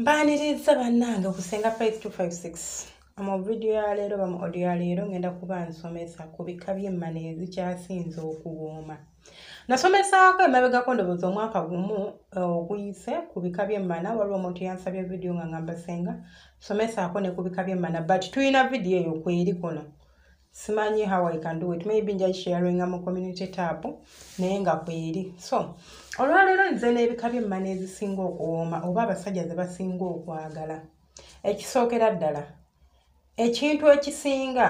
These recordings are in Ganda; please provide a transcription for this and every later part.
mbaniriza bannange ku senga 5256 mu vidiyo ya leero bamu odiyo ya leero ngenda kuba nsomesa ku bika by'emmana ezikyasinze okuwooma nasomesaako emabegako ndowooza omwaka gumu eh, oguyise ku bika byemmana waliwo omuntu yansabye vidiyo nga ngamba senga somesaako ne ku bika byemmana but tulina vidiyo eyo kweri kuno simanyi how i can do it maybe nja sharinga mu community tab naye nga kweri so olwaleero nze n'ebika byemmana ezisinga okuwooma oba abasajja ze basinga okwagala ekisookera ddala ekintu ekisinga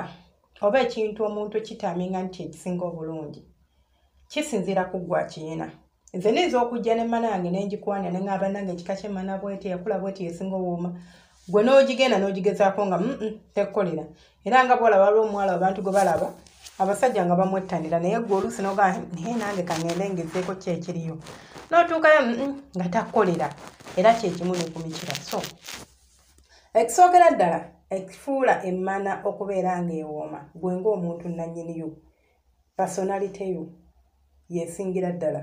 oba ekintu omuntu ekitaminga nti ekisinga obulungi kisinziira ku gwa kiyina nze niyinza okujja ne mana yange nengikwana nengaba nange ekika kyemana bweti yakula bweti yesinga owooma gwe n'ogigenda n'ogigezaako nga mm, mm, tekkolera era nga bwola waliwo omuwala abantu gwe balaba abasajja nga bamwettanira naye gwe oluusi noga naye nange kangende ngezeeko ki ekiriyo n'otuukayo mm, nga takkolera era kyekimu ne ku mikira so ekisookera ddala ekifuula emmana okubeera ng'ewooma gwe ng'omuntu nannyiniyo pasonaliteyo yesingira ddala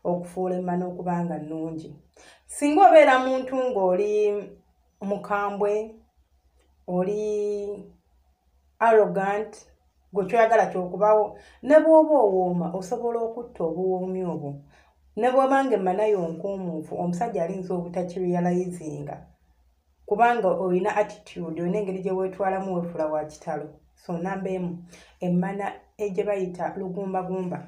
okufuula emmana okuba nga nnungi singa obeera muntu ng'oli mukambwe oli arrogant gwe kyoyagala kyokubawo ne bwoba owooma osobola okutta obuwoomi obwo ne bweba nga emanayo nkuumuufu omusajja alinza obutakirealizinga kubanga olina attitude olina engeri gye weetwalamu weefula wa kitalo so namba emu emmana egye bayita lugumbagumba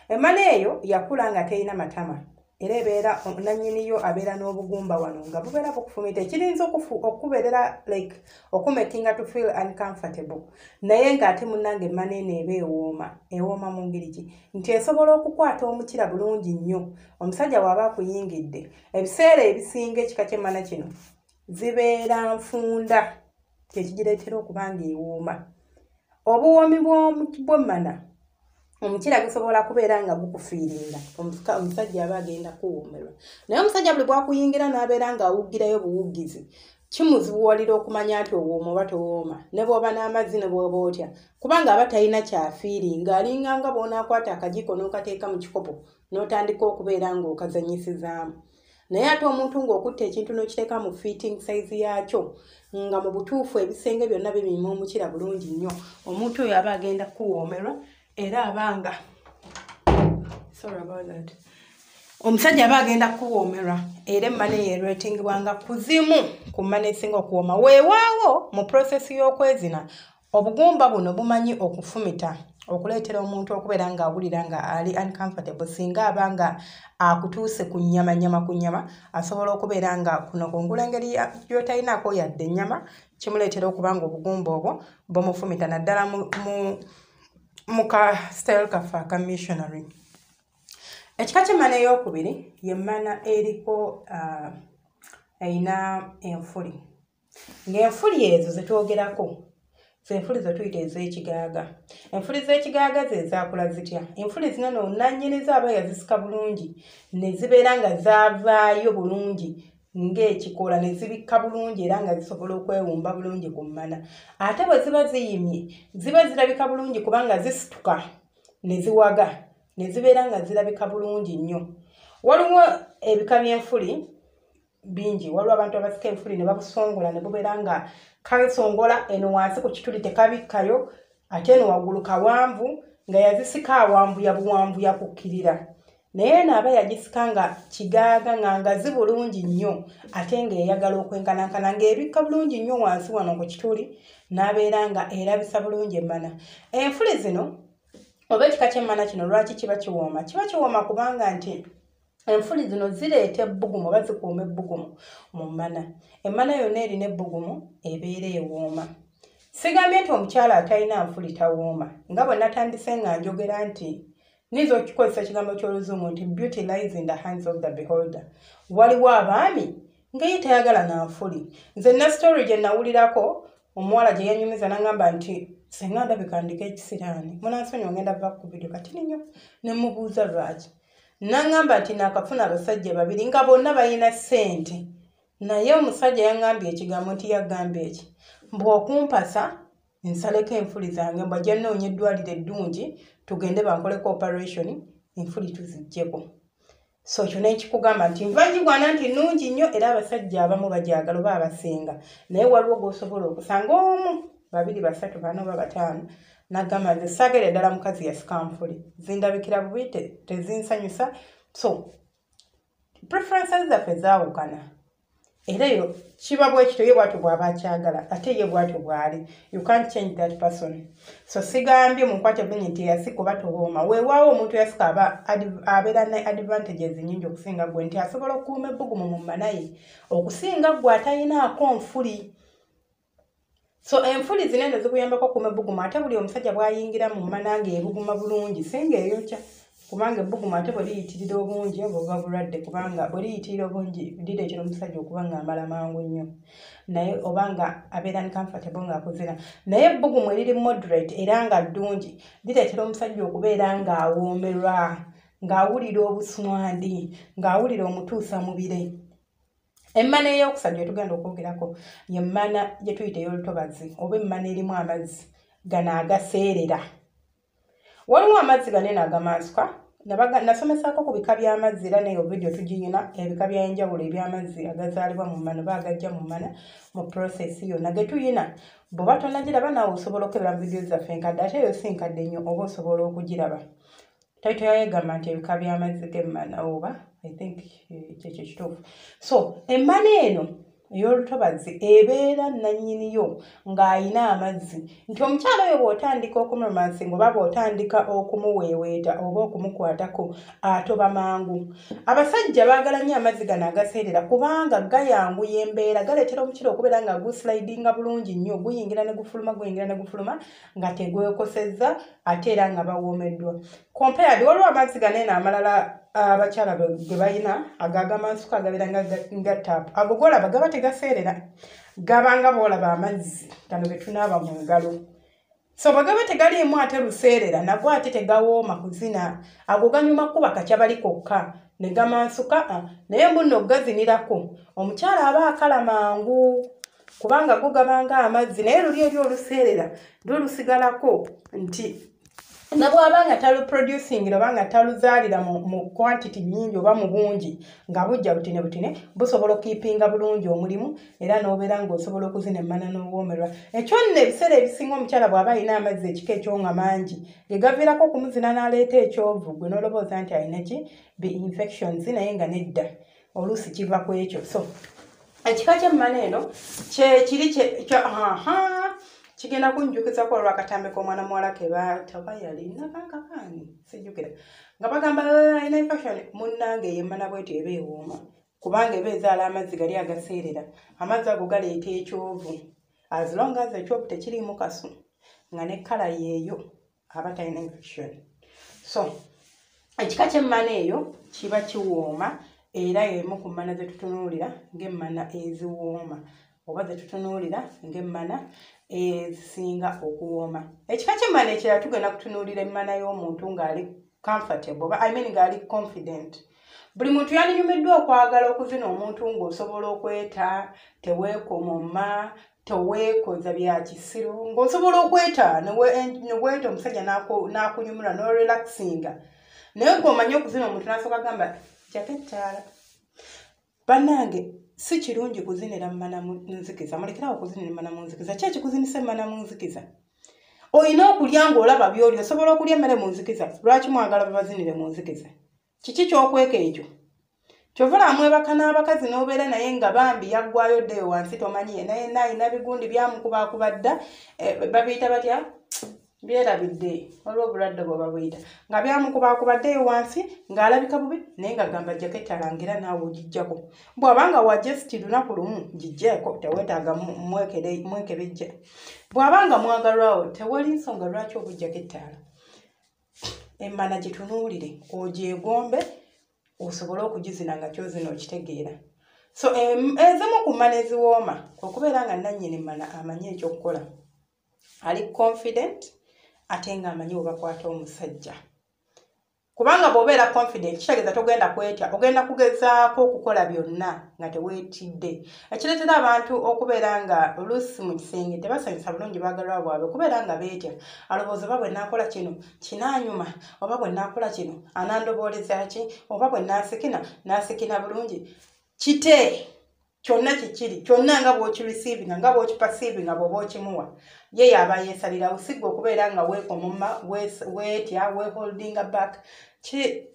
emmana eyo yakula nga terina matama era ebeera nanyiniyo abeera n'obugumba wano nga bubeera bukufumita ekirinza okukubeerera like okumakinga to feel uncomfortable naye ng'ate munange maneeno eba ewooma ewooma mu ngeri ki nti esobola okukwata omukira bulungi nnyo omusajja waaba akuyingidde ebiseera ebisinga ekika ky'emmana kino zibeera nfunda kyekigireetera okuba nga ewooma obuwoomi bw'emmana omukyira gusobola kubeera nga gukufiiringa omusajja aba agenda kuwoomerwa naye omusajja buli bwakuyingira n'abeera ng'awugirayo buwugizi kimuzibuwalira okumanya nti owooma oba towooma ne bwoba n'amazzi ne bwoba otya kubanga aba talina kyafiiri ng'alinga nga bw'onaakwata akajiiko n'okateeka mu kikopo n'otandika okubeera ng'okazanyisizaamu naye ate omuntu ng'okutta ekintu n'okiteeka mu fitting size yaakyo nga mu butuufu ebisenge byonna bibima omukira bulungi nnyo omuntu oyo aba agenda kukuwoomerwa era aba nga sorry about that omusajja aba agenda kukuwoomerwa era emmane yeerwetingebwa nga kuzimu ku mmane esinga okuwooma weewaawo mu prosesi y'okwezina obugumba buno bumanyi okufumita okuleetera omuntu okubeera ng'awulira nga ali uncomfortable singa aba nga akutuuse ku nnyama nnyama ku nnyama asobola okubeera nga kuno kungula engeri yotalinaako yadde ennyama kimuleetera okuba nga obugumba obwo bumufumita naddala mu ka style kaffe aka missionary ekika kyemmana eyokubiri yemmana eriko uh, erina enfuli ng'enfuli ezo ze twogerako zenfuli zetuyita ez'ekigaaga enfuli z'ekigaaga ze zaakula zitya enfuli zino no nannyiniza aba yazisika bulungi ne zibeera nga zaavaayo bulungi ng'ekikola ne zibikka bulungi era nga zisobola okwewumba bulungi ku mmana ate bwe ziba ziyimye ziba zirabika bulungi kubanga zisituka ne ziwaga ne zibeera nga zirabika bulungi nnyo waliwo ebika by'enfuli bingi waliwo abantu abasika ebifuli ne babusongola ne bubeera nga kasongola eno wansi ku kituli tekabikkayo ate eno waggulu kawanvu nga yazisika awambuya buwambuya kukkirira naye eno aba yagisika nga kigaaga nga ngazi bulungi nnyo ate ng'eyagala okwenkanankana ng'ebikka bulungi nnyo wansi wano ku kituli n'abeera nga erabisa bulungi emmana enfuli zino oba ekika ky'emmana kino lwaki kiba kiwooma kiba kiwooma kubanga nti enfuli zino zireeta ebbugumu oba zikuuma ebbugumu mu mmana emmana yonna erina ebbugumu ebeera ewooma sigambye nti omukyala atalina nfuli tawooma nga bwe natandise nga njogera nti niyinza okukikozesa ekigambo ky'oluzungu nti beauty lies in the hands of the beholder waliwo abaami ngaye tayagala na nfuli nze na story gye nawulirako omuwala gye yanyumiza nangamba nti senga ndabika ndika ekisiraani munansonyi ogenda va ku vidio katini nnyo ne mubuuza lwaki nangamba nti nakafuna abasajja babiri nga bonna balina sente naye omusajja yangambye ekigambo nti yagambye eki mbwokumpasa nsaleko enfuli zange mbajja noonya eddwaliro eddungi tugende bankoleko operation enfuli tuzijjeko so kyo nekikugamba nti nvagigwana nti nungi nnyo era abasajja abamu bajagala oba abasinga naye waliwo gosobola okusanga omu babiri basatu bana oba bataano nagamba nze sagere ddala mukazi yasikampuli zindabikira bubi tezinsanyusa so preferences zaffe zaawukana era eyo kiba bwekityo ye bwatyo bwaba akyagala ate ye bwatyo bwali you can't change that person so sigambye munkwate bini nti eyasika oba towooma weewaawo omuntu eyasika aba abeera ne advantages nyingi okusinga gwe nti asobola okukuuma ebbugumu mu manaye okusinga gwe atayinaako nfuli so enfuli zino eno zikuyambako okuuma ebbugumu ate buli omusajja bwayingira mu mmana nga ebuguma bulungi singa eyokya kubanga ebbugumu ate bwe liyitirira obungi oba oba bulwadde kubanga bwe liyitirira obungi lireetera omusajja okuba ng'amala mangu nnyo naye oba nga abeera ni comfortable ng'akuzira naye ebbugumu eriri moderate era nga ddungi lireetera omusajja okubeera ng'awoomerwa ng'awulira obuswandi ng'awulira omutuusa mubire emmana eyokusatu gyetugenda okwogerako yemmana gyetuyita eyolutobazi oba emmana erimu amazzi gano agaseerera waliwo amazzi gano eno agamansuka nasomesaako ku bika by'amazzi era neyo vidiyo tugiyina ebika byaenjawulo eby'amazzi agazaalibwa mu mmana oba agajja mu mmana mu prosesi yonna getuyina bweoba tonagiraba naawe osobola okukebera mu vidiyo zaffe enkadde ate eyo si nkadde nnyo oba osobola okugiraba taito yayo egamba nti ebika by'amazzi g'emmana oba i think eh, kyekyo kituufu so emmana eno ey'olutobazzi ebeera nannyiniyo ng'alina amazzi nti omukyala oyo bw'otandika okumromansi ngaoba bw'otandika okumuweeweeta oba okumukwatako atoba mangu abasajja baagala nnyo amazzi gano agaseerera kubanga gayanguya embeera galeetera omukira okubeera nga guslidinga bulungi nnyo guyingira ne gufuluma guyingira ne gufuluma nga tegwekosezza ate era nga bawoomeddwa compared waliwo amazzi ganeeno amalala abakyala ah, ge balina agagamansuka agabeera nga taapu ago golaba gaba tegaseerera gabanga boolaba amazzi gano getunaaba mu ngalo so bwegaba tegaliimu ate luseerera nago ate tegawooma kuzina ago ganyuma kuba kakya bali kokka ne gamansuka ah, naye mbuno okugazinirako omukyala aba akala mangu kubanga gugabanga amazzi naye luli eri oluseerera lulusigalako nti nabwaba nga taluproducing oba nga taluzaalira mu quantity nyingi oba mu bungi nga bujja butine butine busobola okukipinga bulungi omulimu era n'obeera ng'osobola okuzina emmana n'owoomerwa ekyo nno ebiseera ebisinga omukyala bw'aba alina amazzi ekika ekyo nga mangi ge gaviirako okumuzina n'aleeta ekyovu gwe n'olobooza nti alina ki be infections naye nga nedda oluusi kiva ku ekyo so ekika kyemmana eno kyekiri kigenda kunjukizako olwakatambi komwana muwala kebataba yalinakakakani sijukira nga bagamba alina infection munange yemmana bwetyo eba ewooma kubanga eba ezaala amazzi gali agaseerera amazzi ago galeeta ekyovu as long as ekyovu tekiriimu kasu nga ne kala yeeyo aba talina infection so ekika kyemmana eyo kiba kiwooma era emu ku mmana zetutunuulira ngaemmana eziwooma oba zetutunuulira ngaemmana ezisinga okuwooma ekika kyemmana ekirala tugenda kutunuulira emmana y'omuntu ng'ali comfortable oba i mean ng'ali confident buli muntu yandinyumiddwa okwagala okuzina omuntu ng'osobola okweta teweekomoma teweekoza bya kisiru ng'osobola okweta neweeta omusajja n'akunyumula n'orelaxinga naye ng'omanye okuzina omuntu n'asooka gamba jakettaala bannange si kirungi kuzinira mumana munzikiza mulekerawo okuzinira mumana munzikiza ki ekikuzinisa emana munzikiza olina okulya ng'olaba byoli osobola okulya emmere munzikiza lwaki mwagala babazinire munzikiza kiki kyokweka ekyo kyovula amwebaka n'abakazi n'obeera naye nga bambi yaggwayo ddeyo wansi tomanyi ye naye naayina bigundi byamukubakuba dda eh, babiyita batya byerabidde waliwo obulwadde bwe babuyita nga byamukubakuba ddeyo wansi ng'alabika bubi naye nga gamba jjako ettalangira naawe ogijjako bw'aba nga wajesti lunaku lumu gijjeeko teweetaaga mwekebejja bw'aba nga mwagalwawo tewali nsonga lwaki obujjako ettaala emmana gitunuulire ogyegombe osobole okugizina nga kyozina okitegeera so ezimu ku mmana eziwooma okubeera nga nannyini mmana amanyi ekyokukola ali confident ate ng'amanyi webakwata omusajja kubanga bw'obeera confident kitegeeza togenda kwetya ogenda kugezaako okukola byonna nga teweetidde ekireetera abantu okubeera nga oluusi mu kisenge tebasanyusa bulungi baagalwa bwabwe kubeera nga beetya alowooza oba bwe naakola kino kinaanyuma oba bwe naakola kino anandobooleza ki oba bwe naasikina naasikina bulungi kite kyonna kikiri kyonna nga bwokirisiivinga nga bwokipasiivinga bwoba okimuwa ye yaaba yeesalirawo sigga okubeera nga weekomoma weetya weeholdinga back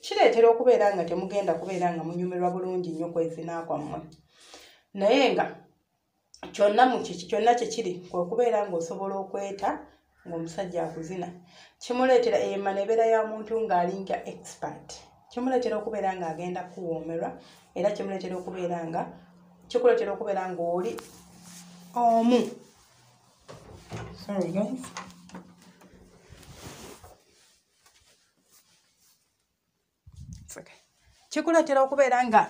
kireetera okubeera nga temugenda kubeera nga munyumirwa bulungi nnyo kwezina kwammwe naye nga kyonna mukiki kyonna kyekiri kwekubeera ngaosobola okweta ngaomusajja akuzina kimuleetera ema nebeera ya muntu ngaalinga expert kimuleetera okubeera nga agenda kuwoomerwa era kimuleetera okubeera nga kikuleetera okubeera ngaoli omu sorry guys kikuleetera okubeera nga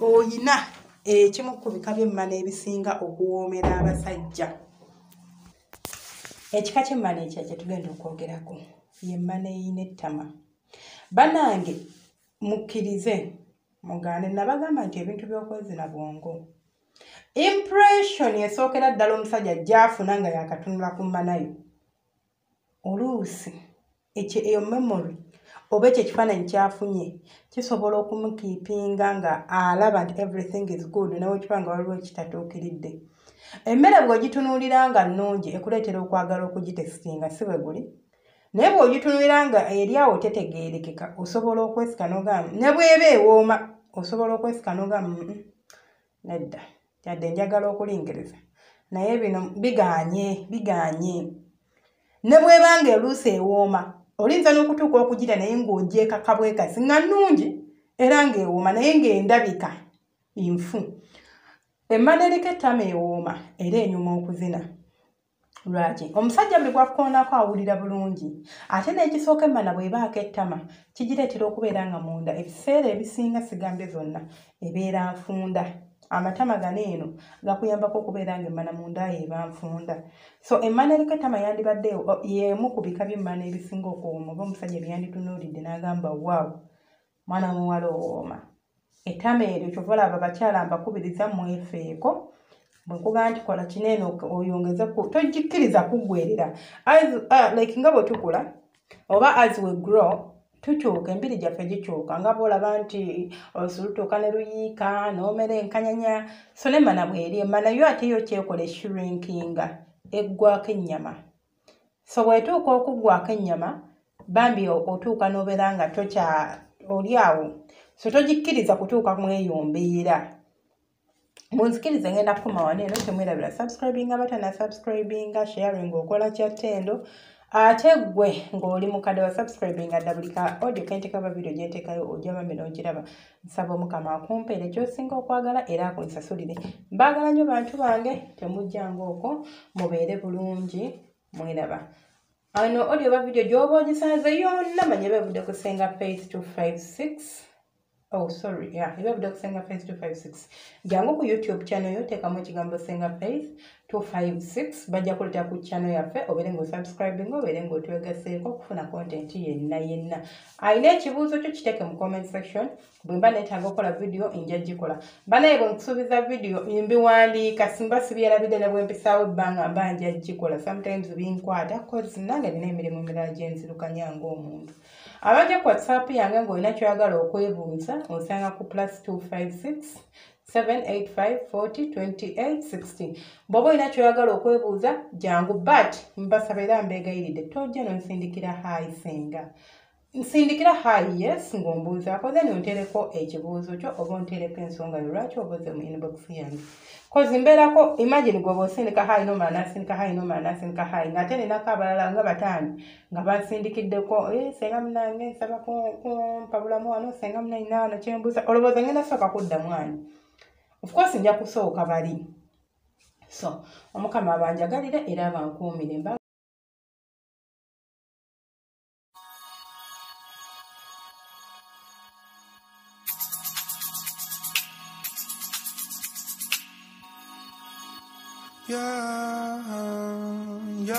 oyina ekimu ku bika by'emmana ebisinga okuwoomera abasajja ekika ky'emmana ekya kye tugenda okwogerako yemmana eyina ettama banange mukkirize mugaane nabagamba nti ebintu by'okwezina bwongo impression esookera ddala omusajja gyafuna nga yakatunula ku mmanayo oluusi ekyo eyo memory oba ekyo ekifaananyi kyafunye kisobola okumukiipinga nga alaba nti everything is good newekiba nga waliwo ekitatuukiridde emmere bw'ogitunuulira nga nnungi ekuleetera okwagala okugitesitinga si bwe guli naye bw'ogitunuulira nga eri awo tetegeerekeka osobola okwesika nogamba ne bw'eba ewooma osobola okwesika nogamba nedda yadde njagala okulingiriza naye bino biganye biganye ne bwebanga eruusi ewooma olinza n'okutuuka okugira naye ng'ogyekakabwekasi nga nnungi era ng'ewooma naye ng'endabika nfu emmana eriko ettama ewooma era enyuma okuzina lwaki omusajja mbi bwakkoonako awulira bulungi ate n'ekisooka emmana bw'ebaako ettama kigireetera okubeera nga munda ebiseera ebisinga sigambye zonna ebeera nfunda amatama gano eno gakuyambako okubeera nga emmana munda yeeba nfunda so emmana eriko ettama yandibadde y'emu ku bika by'emmana ebisinga okuwoma oba omusajja byeyanditunuulidde n'agamba waawo mwana muwala owooma etama eryo kyova olaba abakyala mbakubiriza mwefeeko bwekugaa nti kola kineeno oyongeze togikkiriza kuggwerera uh, like nga bwe tukula oba as we grow tukyuka embiri gyaffe gikyuka nga bwolaba nti osulutuuka ne luyiika n'omera enkanyanya so nemana bweri emana yo ate yo kyekola eshrinkinga eggwako ennyama so bwetuuka okuggwako ennyama bambi otuuka n'obeera nga tokya oli awo so togikkiriza kutuuka mu eyo mbeera munzikirize ngenda kukoma wano eno temwerabira subscribinga batana subscribinga sharing okola kyattendo ate gwe ng'oli mukadde wa subscribinga dda buli ka audio kentekabavidio gyentekayo ojja bambi n'ogiraba nsaba omukama akumpeere kyosinga okwagala era akunsasulire mbaagala nnyo bantu bange temujjanga okwo mubeere bulungi mweraba ano olio oba vidiyo gyoba ogisanze yonna manya ebevudde ku senga page 256 oh sorry yeah ebevudde ku senga page 256 jangu ku youtube channel yo teekamu ekigambo senga page 256 bajja kuleeta ku channel yaffe obeere nga osubscribing obeere nga otwegaseeko okufuna content yenna yenna alina ekibuuzo kyo kiteeke mu comment section bwe mba neetaaga okukola vidiyo nja gikola banaye bwe nkusuubiza vidiyo mbiwandiika simba sibyerabidde ne bwe mpisaawo ebbanga mba nja gikola sometimes binkwata cause nange nina emirimu emirala gye nzirukanya ng'omuntu abajja ku whatsapp yange ng'olina kyoyagala okwebuuza osanga ku plus 256 785402860 bwoba olina kyoyagala okwebuuza jangu but mbasaba era mbeegayiride tojja nonsindikira hayi senga nsindikira hayi yes ng'ombuuzaako then ontereko ekibuuzo kyo oba ontereko ensonga yo lwaki obuuze mu inbox yange kozi mbeerako imagine gwoba osindika hayi nomala nasindika hayi nomala nasindika hayi ngaate ninako abalala nga bataano nga bansindikiddeko eh, senga munange nsaba kumpabulamu wano senga munanyina wano kyembuuza olowooza ngenda sooka kuddamu ani ofcourse nja kusooka bali so omukama abanjagalire era abankuumire mba Yeah, yeah.